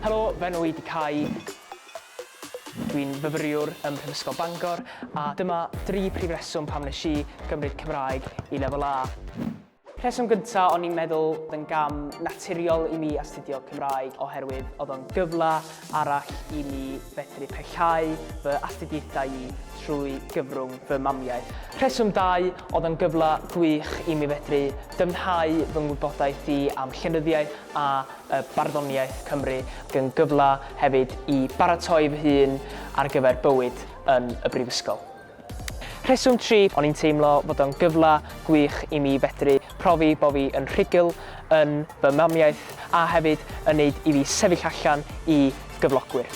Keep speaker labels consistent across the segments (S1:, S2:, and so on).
S1: Helo, fy enw i ydy Cai. Dwi'n fyfyriwr ym Mhrifysgol Bangor a dyma dri prif reswm pam nes i gymryd Cymraeg i Lefel A. Rheswm gyntaf, o'n i'n meddwl bod yn gam naturiol i mi astudio Cymraeg oherwydd oedd o'n gyfle arall i mi fedru parhau fy astudiaethau i trwy gyfrwng fy mamiaith. Rheswm dau, oedd o'n gyfle gwych i mi fedru dyfnhau fy ngwybodaeth i am llenyddiaeth a y barddoniaeth Cymru ac yn gyfle hefyd i baratoi fy hun ar gyfer bywyd yn y Brifysgol. Rheswm tri, o'n i'n teimlo fod o'n gyfle gwych i mi fedru profi bo fi yn rhugl yn fy mamiaith a hefyd yn neud i fi sefyll allan i gyflogwyr.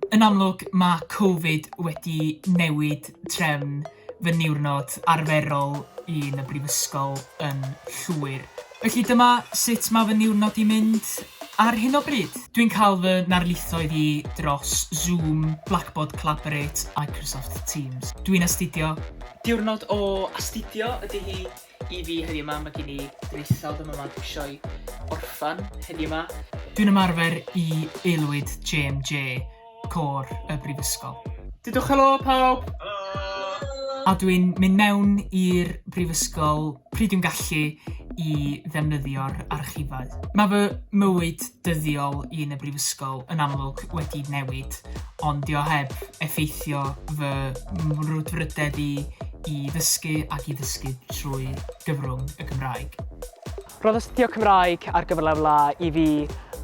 S2: Yn amlwg, mae Covid wedi newid trefn fy niwrnod arferol i yn y brifysgol yn llwyr. Felly dyma sut mae fy niwrnod i'n mynd ar hyn o bryd. Dwi'n cael fy narlithoedd i dros Zoom, Blackboard Collaborate, Microsoft Teams. Dwi'n astudio. Diwrnod o astudio ydy hi. I fi heddiw 'ma mae gen i ddisawd am y math sioe orffan heddiw 'ma. Dwi'n ymarfer i aelwyd JMJ, Côr y Brifysgol. Dudwch helo pawb! A dwi'n mynd mewn i'r Brifysgol pryd dwi'n gallu i ddefnyddio'r archifau. Mae fy mywyd dyddiol un y brifysgol yn amlwg wedi newid, ond dio heb effeithio fy mrwdfrydedd i i ddysgu ac i ddysgu trwy gyfrwng y Gymraeg. Roedd astudio
S1: Cymraeg ar gyfer lefel A i fi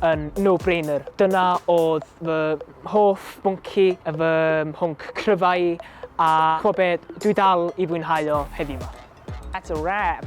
S1: yn no-brainer. Dyna oedd fy hoff bwnci, fy mhwnc cryfau i, a chwa be, dwi dal i fwynhau o heddiw 'ma. That's a wrap!